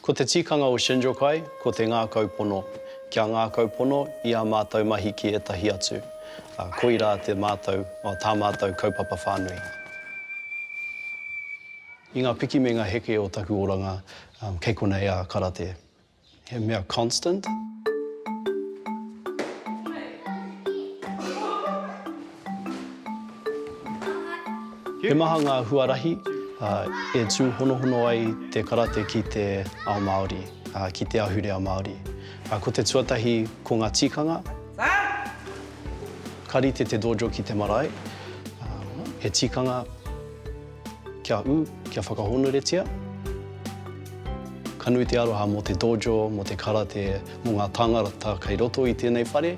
Ko te tikanga o Shinjukai ko te ngākau pono, kia ngākau pono i ā mātou mahi ki ētahi atu, ā, koirā te mātou, o, tā mātou kaupapa whānui. I ngā piki me ngā heke o taku oranga, kei konei a Karate. He mea constant. He maha ngā huarahi e tūhonohono ai te karate ki te ao Māori, ki te ahurea Māori. Ko te tuatahi, ko ngā tikanga. Ka rite te dojo ki te marae, he tikanga. Kia ū, kia whakahōnuretia. Ka nui te aroha mō te dojo, mō te karate, mō ngā tāngata kei roto i tēnei whare.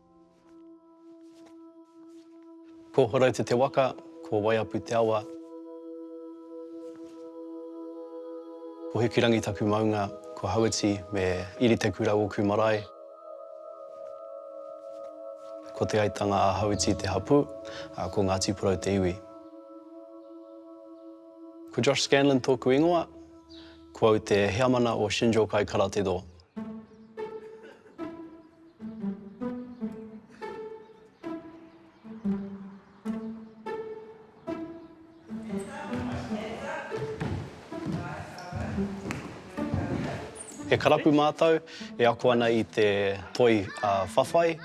Ko Horouta te waka, ko Waiapu te awa. Ko Hikirangi taku maunga, ko Hauiti me Iritekura oku marae. Ko Te Aitanga a Hauiti te hapū, a ko Ngāti Porou te iwi. Ko Josh Scanlon tōku ingoa, ko au te heamana o Shinjo Kai Karate Do. He karapu mātou e ako ana i te toi whawhai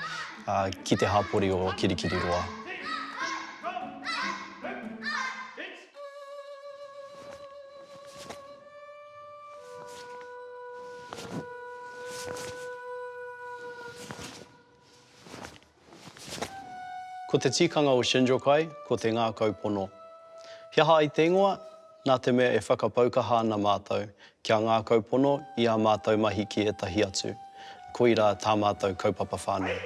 ki te hapori o Kirikiriroa. Ko te tikanga o Shinjukai ko te ngākau pono. He aha ai te ingoa? Nā te mea e whakapau kaha ana mātou kia ngākau pono i ā mātou mahi ki ētahi atu, koirā tā mātou kaupapa whānui.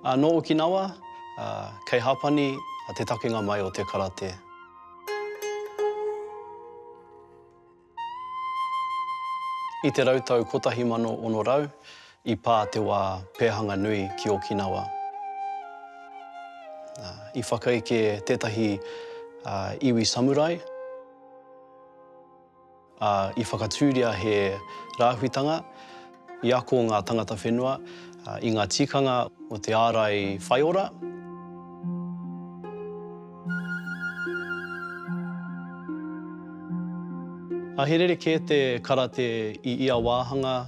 Nō Okinawa, kei Hapani te takenga mai o te karate. I te rautau 1600, I pā te wā pēhanga nui ki Okinawa. I whakaeke tētahi iwi samurai, ā, i whakatūria he rāhuitanga i ako ngā tangata whenua i ngā tikanga o te ārai whaiora. He rerekē te karate i ia wāhanga.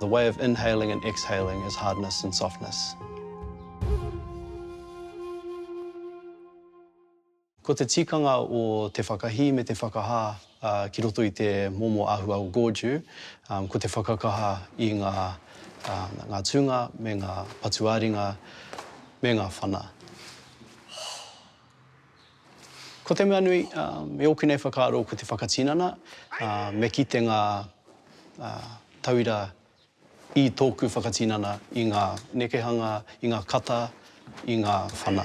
The way of inhaling and exhaling is hardness and softness. Ko te tikanga o te whakahī me te whakahā ki roto i te momo āhua o Gordeau, ko te whakakaha i ngā ngā tūnga me ngā patu ā-ringa me ngā whana. Ko te mea nui, i ōku nei whakaaro ko te whakatinana, me kite ngā tauira i tōku whakatinana i ngā nekehanga, i ngā kata, i ngā whana.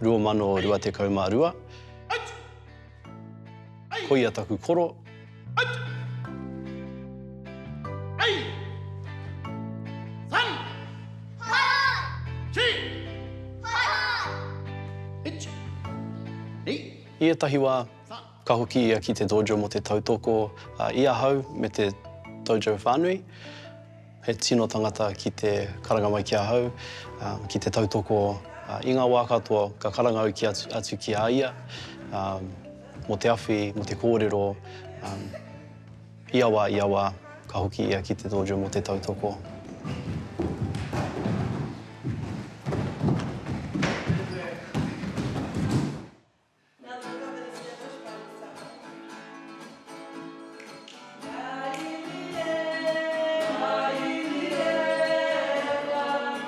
2022 Koia taku koro I ētahi wā, ka hoki ia ki te dojo mō te tautoko i ahau me te dojo whānui. He tino tangata ki te karanga mai ki ahau, ki te tautoko i ngā wā katoa ka karanga au ki atu, atu ki a ia, mō te awhi, mō te kōrero, ia wā, ia wā, ka hoki ia ki te dojo mō te tautoko.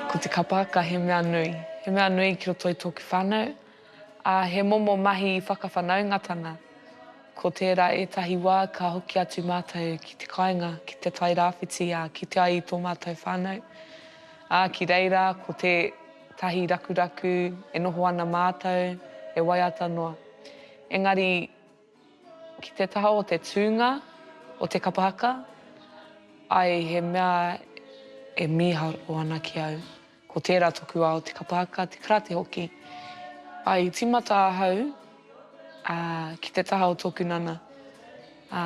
Ko te kapaaka he mea nui. He mea nui ki roto i tōku whānau, ā, he momo mahi whakawhanaungatanga. Ko tērā ētahi wā ka hoki atu mātou ki te kāinga, ki te Tairāwhiti, ā, kitea ai i tō mātou whānau. Ā, ki reira, ko te. Tahi rakuraku, e noho ana mātou, e waiata noa. Engari, ki te taha o te tūnga o te kapa haka, ai he mea e mīharo ana ki au. Ko tērā toku ao, te kapa haka, te karate hoki. Ai i tīmata ahau, ā, ki te taha o tōku nana. Ā,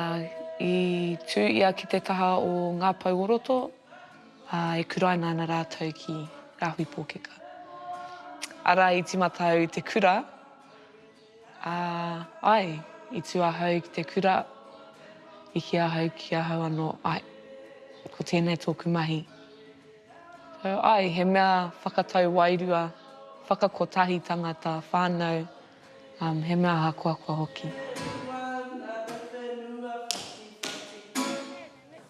i tū ia ki te taha o ngā pou o roto. ā, e kuraina ana rātou ki Rāhui Pōkeka. Arā, i tīmata au i te kura, ā, āe, i tū ahau ki te kura, i kī ahau ki ahau anō, āe, ko tēnei tōku mahi. So, āe, he mea whakatau wairua, whakakotahi tangata, whānau, um, he mea ahakoakoa hoki.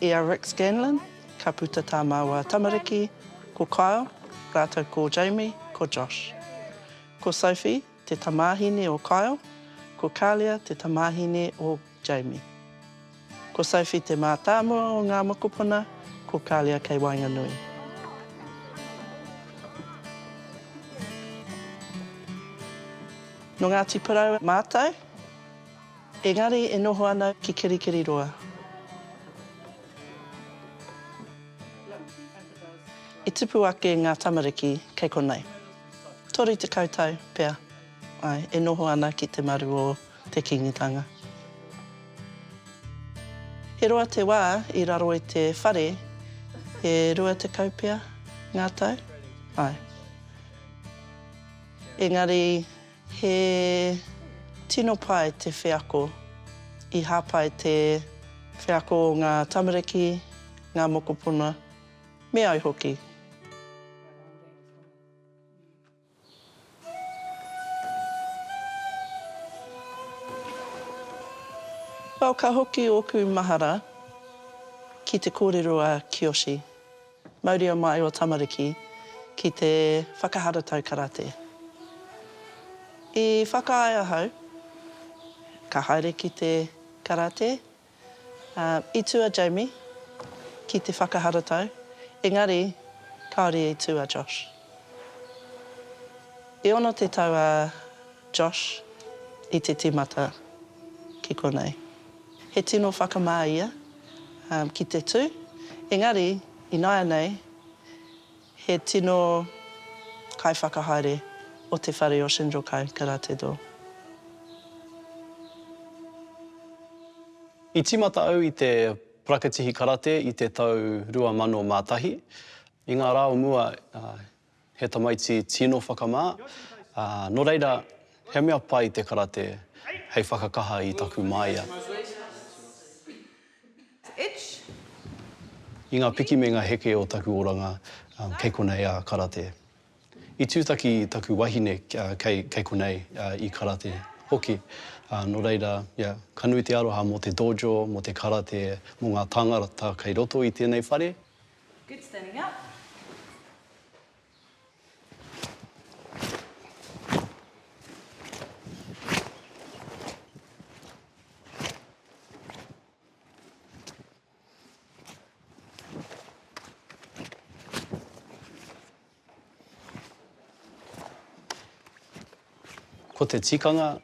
I a Rick Scanlon, ka puta tā māua tamariki, ko Kyle rātou ko Jamie, ko Josh. Ko Sophie te tamāhine o Kyle, ko Kalia te tamāhine o Jamie. Ko Sophie te mātāmua o ngā mokopuna, ko Kalia kei waenganui. Nō Ngāti Porou mātou. Engari e noho ana ki Kirikiriroa. I tipu ake ngā tamariki kei konei. Toru tekau tau pea, āe, e noho ana ki te maru o te Kīngitanga. He roa te wā i raro i te whare, e rua tekau pea ngā tau, āe. Engari. He tino pai te wheako. I hāpai te wheako o ngā tamariki, ngā mokopuna, me au hoki. Well, ka hoki ōku mahara ki te kōrero a Kiyoshi. Mauria mai o tamariki ki te whakaharatau karate. I whakaae ahau ka haere ki te karate, ā, i tū a Jamie ki te whakaharatau, engari kāore i tū a Josh. I 60 tau a Josh i te tīmata ki konei. He tino whakamā ia ki te tū, engari ināianei he tino kaiwhakahaere o te whare o Shinjo Kai Karate Do. I tīmata au i te parakatihi karate i te tau 2001. I ngā rā o mua, He tamaiti tino whakamā, ā, nō reira, he mea pai te karate hei whakakaha i taku māia. I ngā piki me ngā heke o taku oranga, kei konei a karate. I tūtaki taku wahine kei konei i karate hoki, ā, nō reira, ia, ka nui te aroha mō te dojo, mō te karate, mō ngā tāngata kei roto i tēnei whare. Good standing up. Ko te tikanga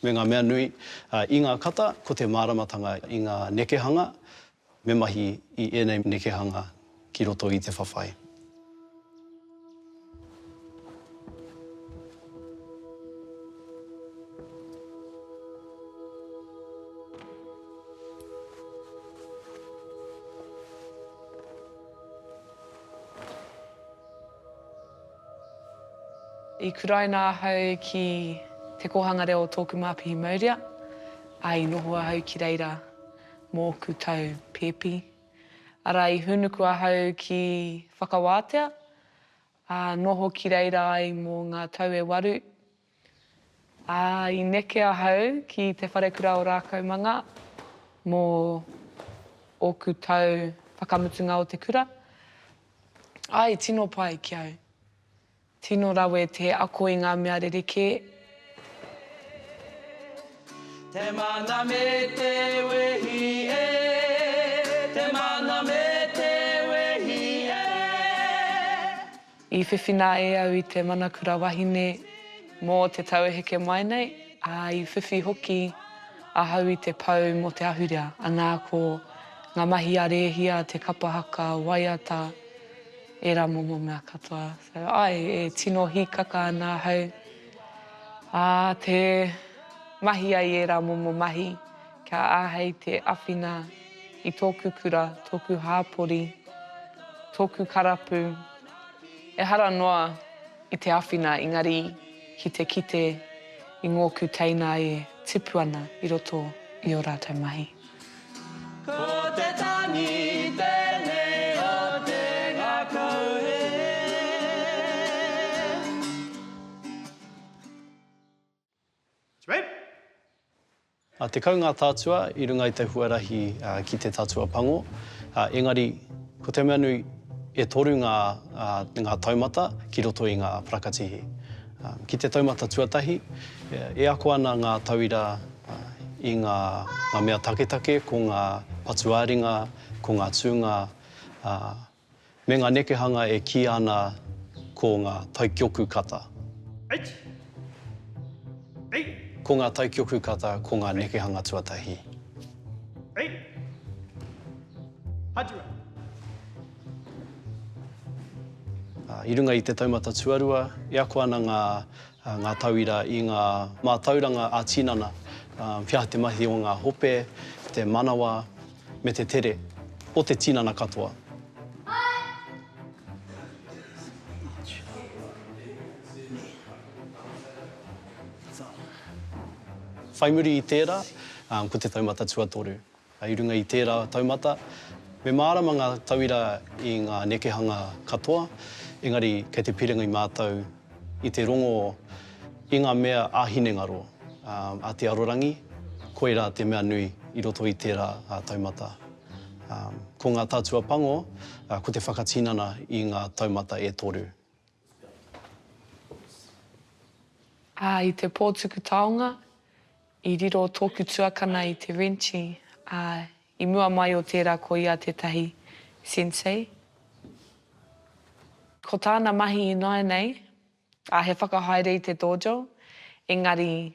me ngā mea nui i ngā kata, ko te māramatanga i ngā nekehanga, Me mahi i ēnei nekehanga ki roto i te whawhai. I kuraina ahau ki Te Kōhanga Reo o Tōku Māpihi Maurea, ā, i noho ahau ki reira. mō ōku tau pēpi. Arā, i hūnuku ahau ki Whakawātea, ā, noho ki reira ai mō ngā tau e waru. Ā, i neke ahau ki Te Wharekura o Rākaumanga mō ōku tau whakamutunga o te kura. Āe, tino pai ki au. Tino rawe te ako i ngā mea rerekē. Te mana me te wehi e, te mana me te wehi e. I whiwhina e au i te mana kura wahine mō te tau e heke mai nei, ā, i whiwhi hoki ahau i te pou mō te ahurea, anā, ko ngā mahi a Rēhia, te kapa haka, waiata, Ērā momo mea katoa. So, āe, e tino hīkaka ana ahau ā te mahi ai ērā momo mahi kia āhei te awhina i tōku kura, tōku hāpori, tōku karapu, ehara noa i te awhina engari ki te kite i ngōku teina e tipu ana i roto i ō rātou mahi. Ko te tangi tēnei o te ngakau hē. Tekau ngā tātua i runga i te huarahi ki te tatua pango, engari ko te mea nui e toru ngā taumata ki roto i ngā parakatihi. Ki te taumata tuatahi, e ako ana ngā tauira I ngā mea taketake ko ngā patu-ā-ringa, ko ngā tūnga, ā, me ngā nekehanga e kīia ana ko ngā taikioku kata. Ko ngā taikioku kata ko ngā nekehanga tuatahi. I runga i te taumata tuarua, e ako ana ngā ngā tauira i ngā mātauranga ā-tinana, whiā te mahi o ngā hope, te manawa, me te tere o te tinana katoa. Whai muri i tērā, ko te taumata tuatoru. I runga i tērā taumata, me mārama ngā tauira i ngā nekehanga katoa, engari kei te piringi mātou i te rongo i ngā mea ā-hinengaro, a te arorangi, koirā te mea nui i roto i tērā taumata. Ko ngā tatua pango, ko te whakatinana i ngā taumata e toru. Ā, i te pōtuku taonga, I riro tōku tuakana i te renci, ā, i mua mai o tērā ko ia tētahi sensei. Ko tāna mahi ināianei, ā, he whakahaere i te dojo, engari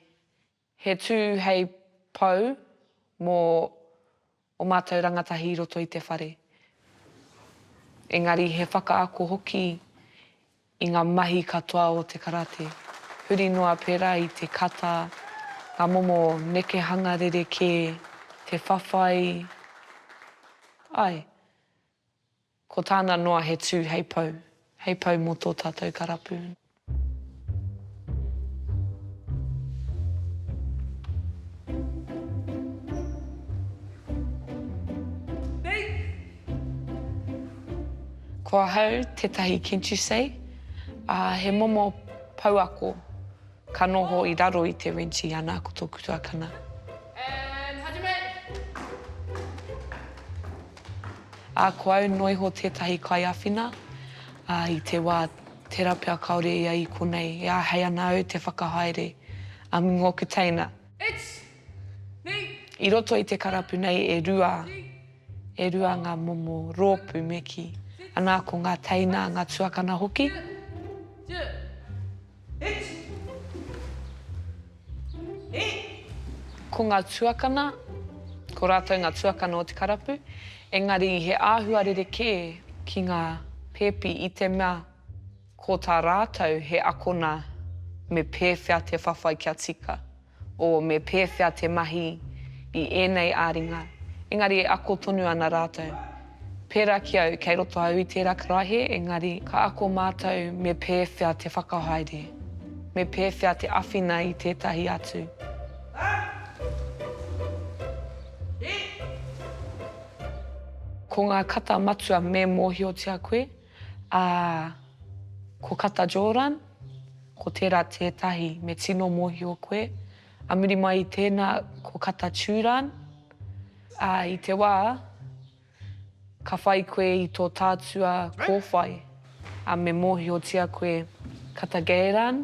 he tū hei pou mō o mātou rangatahi i roto i te whare, engari he whakaako hoki i ngā mahi katoa o te karate, huri noa pērā i te kata, ngā momo nekehanga rerekē, te whawhai, āe. Ko tāna noa he tū hei pou. Hei pou mō tō tātou karapu. Ko ahau tētahi Kentusei, ā, he momo pouako. Ka noho i raro i te renci ana ko toku tuakana. And hajime! A ko au noiho tetahi kaiawhina, a i te wa tera pea kaore ia i konei e ahei ana au te whakahaere a mingo oku teina. It's me! I roto i te karapu nei e rua, e rua nga momo ropu me ki, ana ko nga teina, nga tuakana hoki. Duh! Duh! Ko ngā tuakana, ko rātou ngā tuakana o te karapu, engari he āhua rerekē ki ngā pēpi i te mea ko tā rātou he akona me pēwhea te whawhai kia tika. o me pēwhea te mahi i ēnei ā-ringa, engari e ako tonu ana rātou. Pērā ki au, kei roto au i tērā karaehe, engari ka ako mātou me pēwhea te whakahaere, me pēwhea te awhina i tētahi atu. Ko ngā kata matua me mōhiotia koe. Ā, ko Kata Joran, ko tērā tētahi me tino mōhio koe, a muri mai i tēnā ko Kata Turan, ā, i te wā ka whai koe i tō tātua kōwhai, ā, me mōhiotia koe Kata Geiran,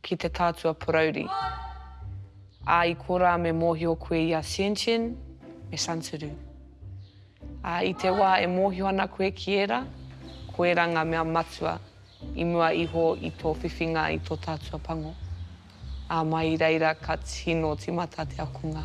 ki te tātua porauri. Ā, i korā me mōhio koe i a Xianxian me Santuru. Ā, i te wā e mōhio ana koe ki ērā, ko ērā ngā mea matua i mua iho i tō whiwhinga i tō tātua pango. Ā, mai i reira ka tino tīmata te akonga.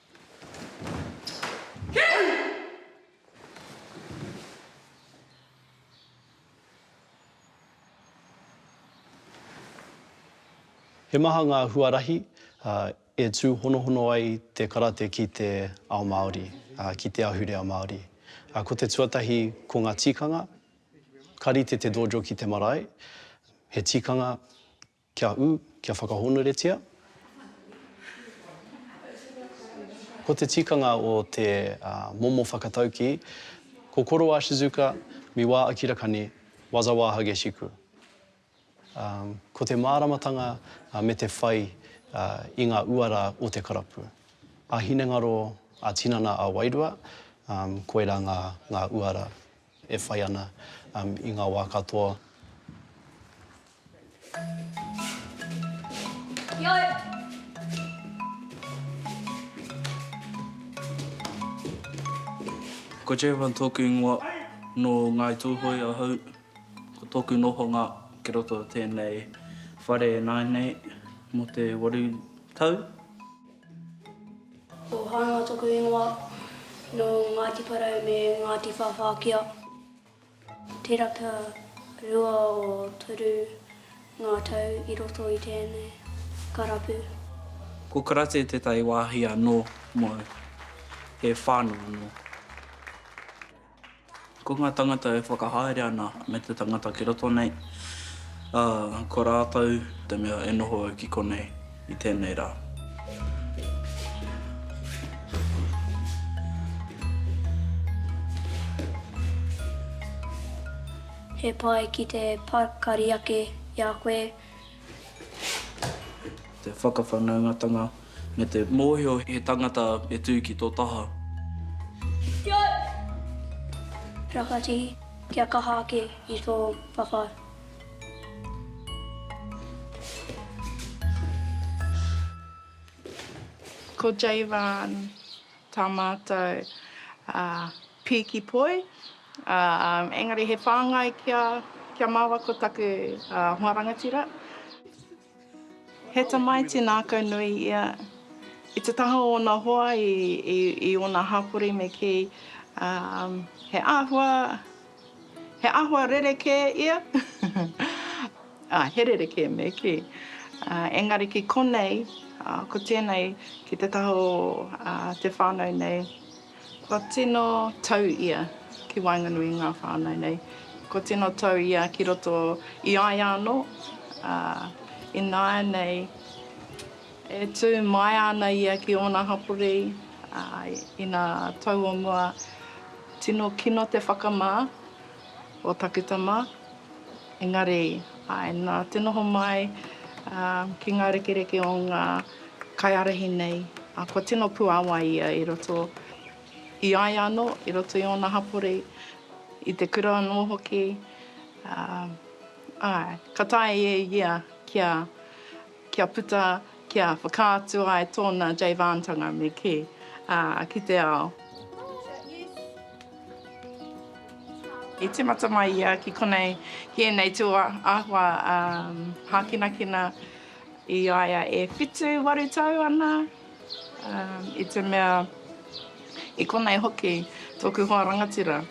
He maha ngā huarahi e tūhonohono ai te karate ki te ao Māori, ki te ahurea Māori. Ko te tuatahi, ko ngā tikanga, ka rite te dojo ki te marae, he tikanga, Kia ū, kia whakahōnuretia. Ko te tikanga o te momo whakataukī, Ko Koro a Shizuka, mi wā Akira Kani, waza wā Hageshiku. Ko te māramatanga me te whai i ngā uara o te karapu. A-hinengaro, a-tinana, a-wairua, koirā ngā uara. e whai ana i ngā wā katoa. Heoi, Ko Jevan tōku ingoa, nō Ngāi Tūhoe ahau. Ko tōku nohonga ki roto o tēnei whare e nāi nei mō te waru tau. Ko Hānga toku ingoa, nō Ngāti Porou me Ngāti Whāwhākia. Tērā pea rua o toru ngā tau i roto i tēnei karapu. Ko Karate tētahi wāhi anō mō he whānau anō. Ko ngā tangata e whakahaere ana me te tangata ki roto nei, ā, ko rātou te mea e noho au ki konei i tēnei rā. He pai ki te pakari ake i a koe. Te whakawhanaungatanga Me te mōhio he tangata e tū ki tō taha. Kia ora! Rakati, kia kaha ake i tō whawhai. Ko Jayvonne tā mātou pīki poi, engari he whāngai kia māua ko taku hoa rangatira. He tamaiti nākau nui ia. I te taha o ōna hoa i ōna hapori me kī, he āhua, he āhua rerekē ia, ā, he rerekē me kī. Engari ki konei, ko tēnei ki te taha o te whānau nei. Kua tino tau ia ki waenganui i ngā whānau nei. Kua tino tau ia ki roto i a ia anō, ā, ināianei e tū maea ana ia ki ōna hapori, ā, ina tau o mua, tino kino te whakamā. o taku tama, engari āe nā te noho mai ki ngā rekereke o ngā kaiārahi nei, kua tino puāwai ia i roto i a ia anō, i roto i ōna hapori, i te kura anō hoki, āe, ka taea e ia kia. kia puta, kia whakaatu ai tōna Jayvantanga me kī, ā, ki te ao. I tīmata mai ia ki konei, ki ēnei tū āhua hākinakina i a ia e whitu, waru tau ana. I te mea, i konei hoki tōku hoa rangatira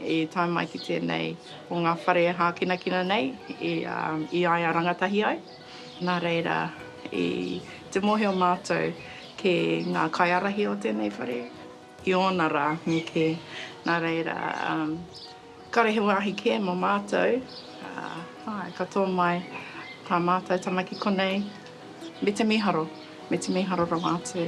i tae mai ki tēnei o ngā whare e hākinakina nei i a ia rangatahi ai. Nā reira, i te mōhio mātou ki ngā kaiārahi o tēnei whare, I ōna rā me kē. Nā reira, kāre he wāhi kē mō mātou, āe, ka tō mai tā mātou tama ki konei, me te mīharo, me te mīharo rawa atu.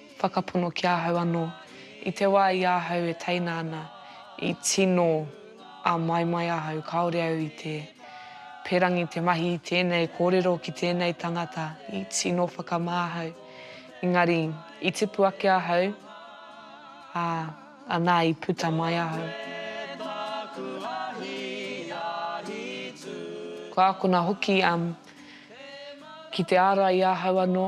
whakapono ki ahau anō. I te wā i ahau e teina ana, i tino āmaimai ahau kāore au i te perangi te mahi i tēnei kōrero ki tēnei tangata, i tino whakamā ahau. Engari, i tipu ake ahau, ā, anā i puta mai ahau. Kua akona hoki ki te ārai i ahau anō.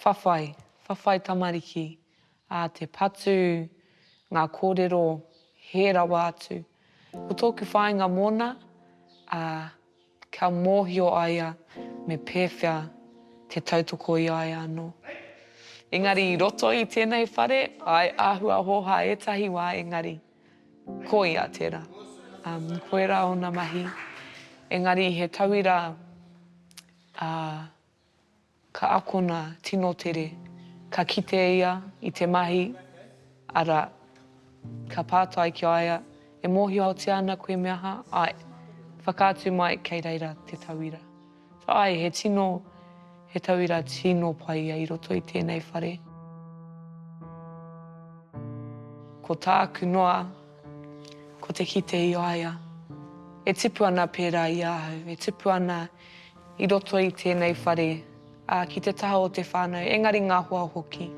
Whawhai, whawhai tamariki, ā, te patu, ngā kōrero, hē rawa atu. Ko tōku whāinga mōna, ā, kia mōhio a ia me pēwhea te tautoko i a ia anō. Engari i roto i tēnei whare, āe, āhua hōhā ētahi wā engari, ko ia tērā. Um, koirā ōna mahi, engari he tauira, ā, Ka akona tino tere, ka kite ia i te mahi, arā, ka pātai ki a ia, E mōhiotia ana koe me aha? Ae. Whakaatu mai kei reira te tauira. Ae, he tino, he tauira tino pai ia i roto i tēnei whare. Ko tāku noa, ko te kite i a ia, e tipu ana pērā i ahau, e tipu ana i roto i tēnei whare, ā, ki te taha o te whānau, engari ngā hoa hoki.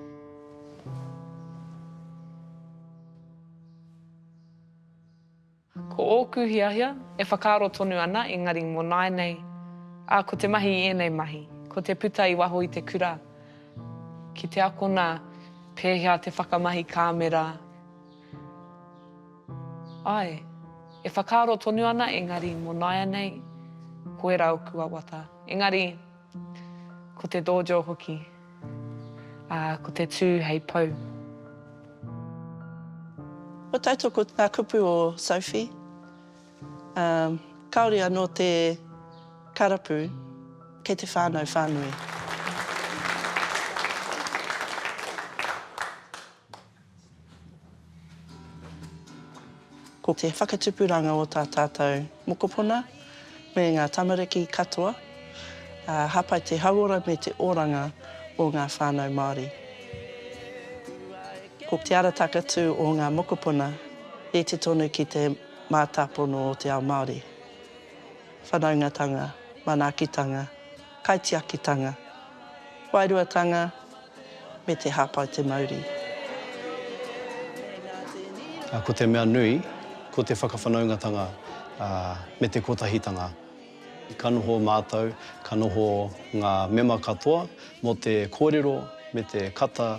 Ko ōku hiahia, e whakaaro tonu ana, engari mō nāianei, ā, ko te mahi i ēnei mahi, ko te puta i waho i te kura, ki te akona pēhea te whakamahi kāmera, Ae, e whakaaro tonu ana engari mo naianei ko era oku wawata. Engari, ko te dojo hoki, a, ko te tu hei pou. Ko tatou ko nga kupu o Sophie, um, kaore ano te karapu kei te whanau whanui. Ko te whakatupuranga o tā tātou mokopuna me ngā tamariki katoa, ā, hāpai te hauora me te oranga o ngā whānau Māori. Ko te ara takatū o ngā mokopuna, rite tonu ki te mātāpono o te ao Māori, whanaungatanga, manaakitanga, Kaitiakitanga, Wairuatanga me te Hāpai Te Mauri. Ā, ko te mea nui, ko te whakawhanaungatanga me te kotahitanga. Ka noho mātou, ka noho ngā mema katoa mō te kōrero me te kata